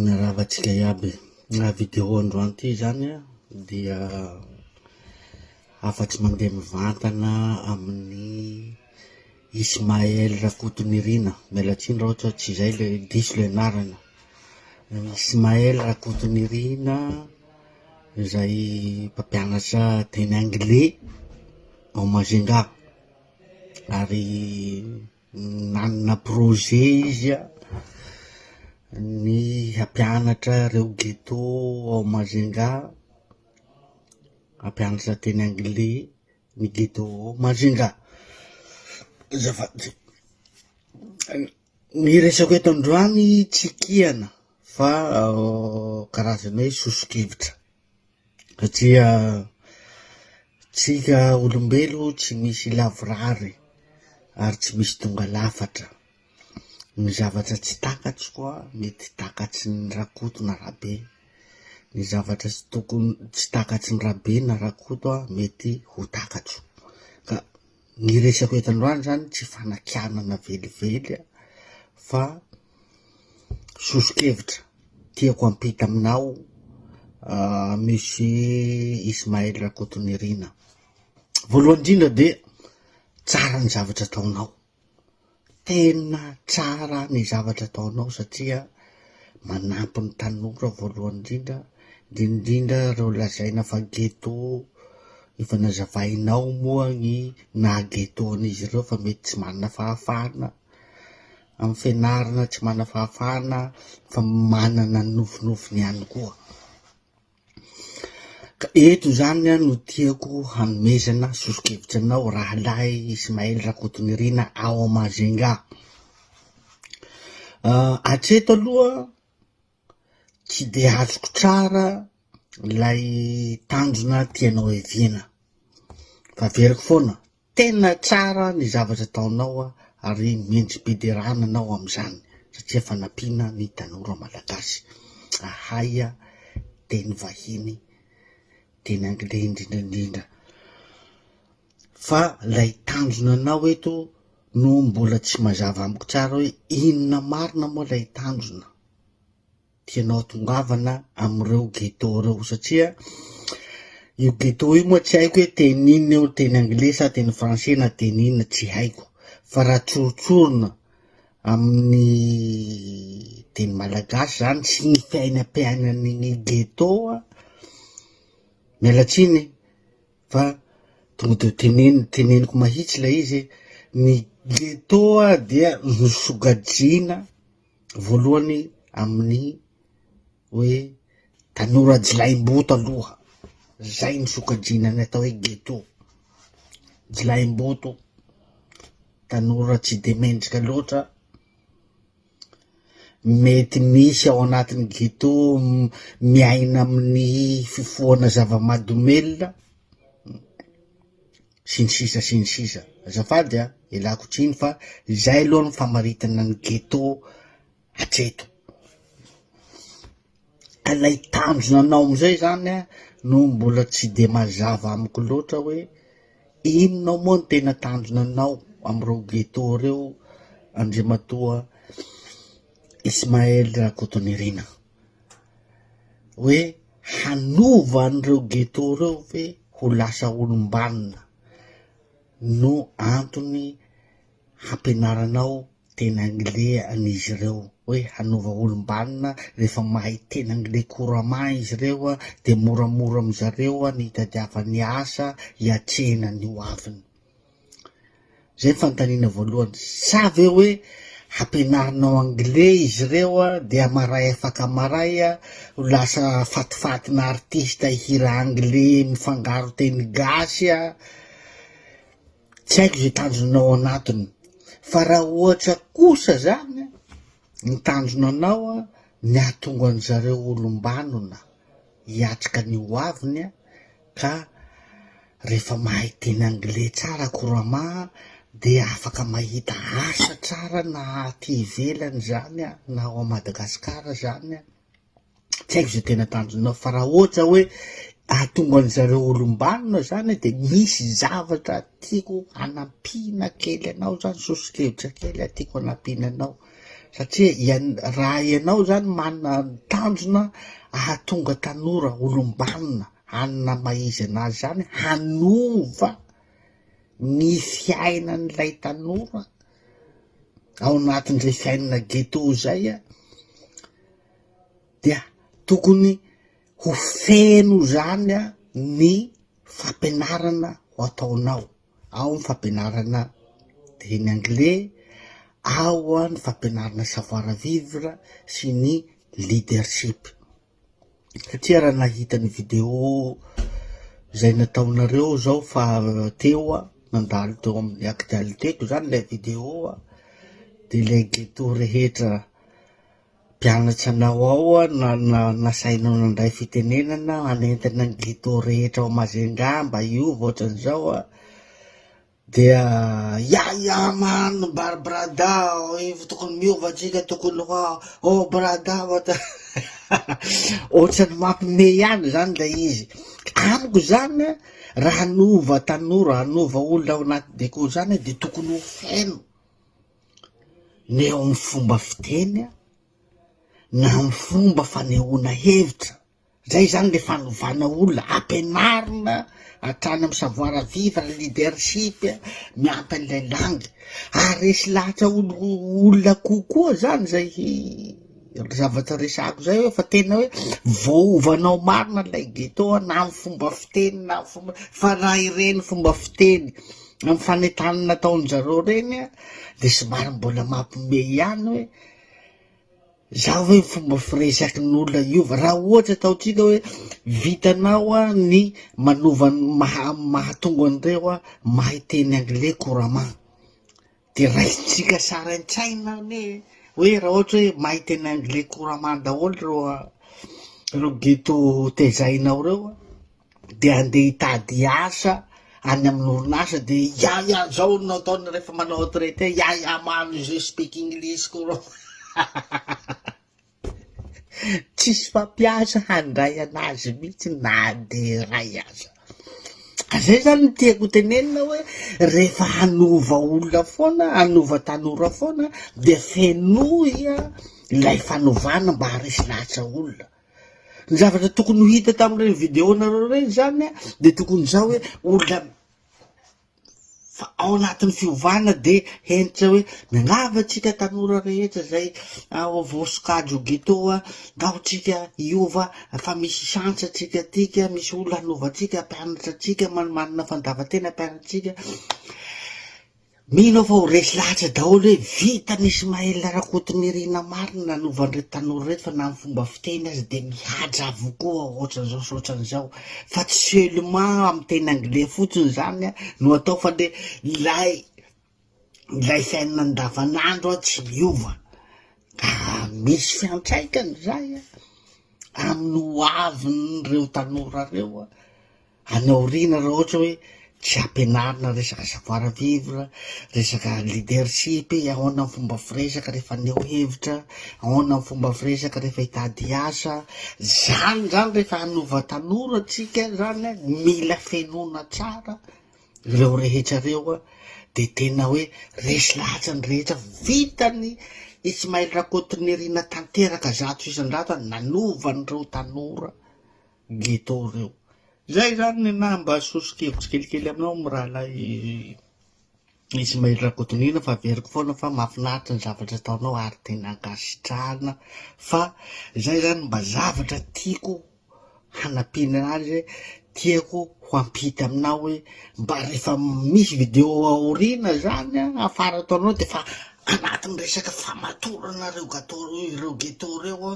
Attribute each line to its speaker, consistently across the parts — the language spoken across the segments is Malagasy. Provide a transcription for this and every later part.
Speaker 1: Miarahaba antsika iaby. Raha vidéo androany ity izany dia afa-tsy mandeha mivantana amin'ny Ismaël Rakotonirina, miala tsiny raha ohatra tsy izay ilay diso ilay anarana, Ismaël Rakotonirina izay mpampianatra teny anglais ao Majunga ary Nanana projet izy a, ny hampianatra reo ghetto ao Majunga, hampianatra teny anglais ny ghetto ao Majunga. Azafady, ny resako eto androany tsy kihana fa karazana hoe soso-kevitra. Satria tsika olombelo tsy misy lavorary ary tsy misy tonga lafatra. Ny zavatra tsy takatsiko an, mety takatsy ny Rakoto na Rabe. Ny zavatra tsy tokony, tsy takatsy ny Rabe na Rakoto an, mety ho takatso. Ka. Ny resako eto androany zany tsy fanakianana velively an, fa soso-kevitra tiako hampita aminao Monsieur Ismaël Rakotonirina. Voalohany indrindra dia tsara ny zavatra ataonao. Tena tsara ny zavatra ataonao satria manampy ny tanora voalohany indrindra, indrindra ireo lazaina fa ghetto, efa nazavainao moa ny naha ghetto an'izy ireo fa mety tsy manana fahafahana amin'ny fianarana, tsy manana fahafahana fa manana ny nofinofiny ihany koa. Ka eto izany no tiako hanomezana soso-kevitra anao rahalahy Ismaël Rakotonirina ao Majunga. Uh, atreto aloha tsy de azoko tsara ilay tanjona tianao eviana fa veriko foana Tena tsara ny zavatra ataonao ary mendri-piderana anao amin'izany satria fanampiana ny tanora malagasy hahay teny vahiny, teny anglais indrindra indrindra. Fa ilay tanjona anao eto no mbola tsy mazava amiko tsara hoe inona marina moa ilay tanjona? tianao tongavana amin'ireo ghetto ireo satria io ghetto io moa tsy haiko hoe teny inona eo, teny anglais sa teny français na teny inona tsy haiko fa raha tsorotsorona amin'ny teny malagasy zany sy ny fiainam-piainan'ny ghetto an, miala tsiny fa tonga de teneno teneniko mahitsy ilay izy e, ny ghetto dia nosogajiana voalohany amin'ny hoe tanora jilahimboto aloha, zay no sokajiana ny atao hoe ghetto, jilahimboto, tanora tsy de mendrika loatra, mety misy ao anatin'ny ghetto m- miaina amin'ny fifohana zava-mahadomelina, sy ny sisa sy ny sisa azafady a, ialako tsiny fa izay aloha ny famaritana ny ghetto hatreto, ka lay tanjona anao amizay zany a no mbola tsy de mazava amiko loatra hoe inona ao moa ny tena tanjona anao amreo ghetto reo Andriamatoa Ismaël Rakotonirina. hoe hanova an'ireo ghetto ireo ve ho lasa olom-banona no antony hampianaranao teny anglais an'izy ireo hoe hanova olom-banona rehefa mahay teny anglais couramment izy ireo an dia moramora amin'izareo an ny hitadiavany asa hiatrehina ny ho aviny. Zay ny fanontaniana voalohany. Sa ve hoe hampianarinao anglais izy ireo dia maray afaka maray ho lasa fatifatina artista hihira anglais mifangaro teny gasy? Tsy haiko izay tanjona ao anatiny. Fa raha ohatra kosa izany ny tanjona anao ny hahatonga an-dry zareo olom-banona hiatrika ny ho aviny, Ka rehefa mahay teny anglais tsara Kurama dia afaka mahita asa tsara na aty ivelany zany an, na ao Madagascar zany an, tsy haiko ze tena tanjonao fa raha ohatra hoe ahatonga an zareo olombanona zany de misy zavatra tiako hanampiana kely anao zany, soso-kevitra kely tiako hanampiana anao. satria ian- raha ianao zany manana ny tanjona ahatonga tanora olom-banona hanana maha izy anazy zany hanova ny fiainan'ilay tanora ao anatin'izay fiainana ghetto zay a dia tokony ho feno zany a ny fampianarana ho ataonao ao ny fampianarana teny anglais, ao ny fampianarana savoir vivre sy ny leadership satria raha nahita ny video izay nataonareo zao fa teo aho nandalo teo amin'ny actualités ko zany ilay video de ilay ghetto rehetra. Mpianatra anao ao na nasainao nandray fitenenana hanentana ny ghetto rehetra ao Majunga mba hiova ohatran'izao an, dia yaya man mbary brada oh tokony miova tsika tokony ho ah oh brada ohatran'ny mampime ihany izany ilay izy, amiko izany an raha hanova tanora hanova olona ao anaty deko izany dia tokony ho feno na eo amin'ny fomba fiteny na amin'ny fomba fanehoana hevitra, izay zany le fanovana olona, ampianarina hatrany amin'ny savoir vivre, ny leadership, miampy an'ilay langy ary resy lahatra olo- olona kokoa zany zay. zavatra resahako zay hoe fa tena hoe voaovanao marina lay ghetto a na am fomba fiteny na am fomba fa raha ireny fomba fiteny am fanentanana nataonjareo reny a de somary mbola mampime ihany hoe za hoe fomba firesaky ny olona hiova raha ohatra ataontsika hoe vitanao a ny manova ny maha- mahatonga an'ireo a mahay teny anglais couramment Dia raisintsika saraintsaina anie hoe raha ohatra hoe mahay teny anglais couramment daholo ireo ireo ghetto tezainao ireo dia andeha hitady asa any amin'ny orinasa dia ya ya zao no ataony rehefa manao retraite ya ya manu je speak English couramment. Tsisy mpampiasa handray an'azy mihitsy na dia iray aza. Zay zany no tiako hotenenina hoe rehefa hanova olona foana, hanova tanora foana dia fenoy ilay fanovana mba haharesy lahatra olona. Ny zavatra tokony ho hita tamin'ireny vidéo-nareo ireny zany dia tokony izao hoe olona, Fa ao anatin'ny fiovana dia hentitra hoe miangavy antsika tanora rehetra izay ao vao sokajy ho ghetto a, angao tsika hiova fa misy chance antsika aty ka, misy olona hanova antsika, hampianatra antsika, manana fandavan-tena hampianatra antsika. Mino aho fa ho resy lahatra daholo hoe vitan'i Ismaël Rakotonirina marina nanova an'ireto tanora ireto fa na ny fomba fiteny aza dia mihaja avokoa ohatran'izao sy ohatran'izao. fa tsy seulement amin'ny teny anglais fotsiny zany no atao fa le ilay ilay fiainana andavanandro a tsy miova ka misy fiantraikany zay a amin'ny ho avin'ireo tanora reo a any aoriana raha ohatra hoe Tsy ampianarina resaka savoir vivre, resaka leadership, ahoana ny fomba firesaka rehefa haneho hevitra, ahoana ny fomba firesaka rehefa hitady asa, zany zany rehefa hanova tanora tsika zany a, mila fenoina tsara reo rehetra reo a, de tena hoe resy lahatra ny rehetra, vitan'i Ismaël Rakotonirina tanteraka zato isan-jato a, nanova an'ireo tanora. ghetto ireo. Izay izany ny naha mba soso-kevitro kelikely aminao mirahalahy Ismaël Rakotonina fa averiko foana fa mahafinaritra ny zavatra ataonao ary tena ankasitrahana fa izay izany mba zavatra tiako hanampiana azy tiako ho ampita aminao hoe mba rehefa misy vidéo aoriana izany afara ataonao dia efa Anatin'ny resaka famatorana ireo gato ireo ghetto ireo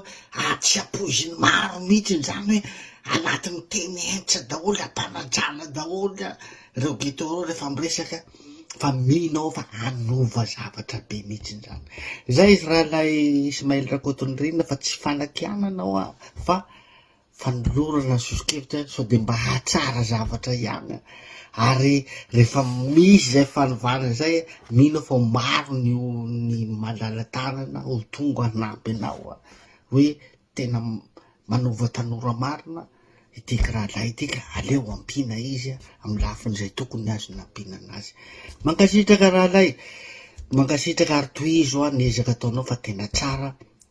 Speaker 1: atsy ampoiziny maro mihitsy izany hoe anatin'ny teny hentitra daholo ampanadrana daholo ireo ghetto ireo rehefa miresaka fa mino aho fa hanova zavatra be mihitsy izany izay izy rahalay Ismaël Rakotonirina fa tsy fanakianana aho fa fanolorana soso-kevitra ihany sao dia mba hahatsara zavatra ihany an, ary rehefa misy izay fanovana izay, mino aho fa ho maro ny o- ny malala-tanana ho tonga hanampy anao an, hoe tena manova tanora marina itiky rahalahy ity ka aleo ampiana izy an, amin'ny lafin'izay tokony azony ampiana anazy. Mankasitraka rahalahy, mankasitraka ary tohizo an ny ezaka ataonao fa tena tsara,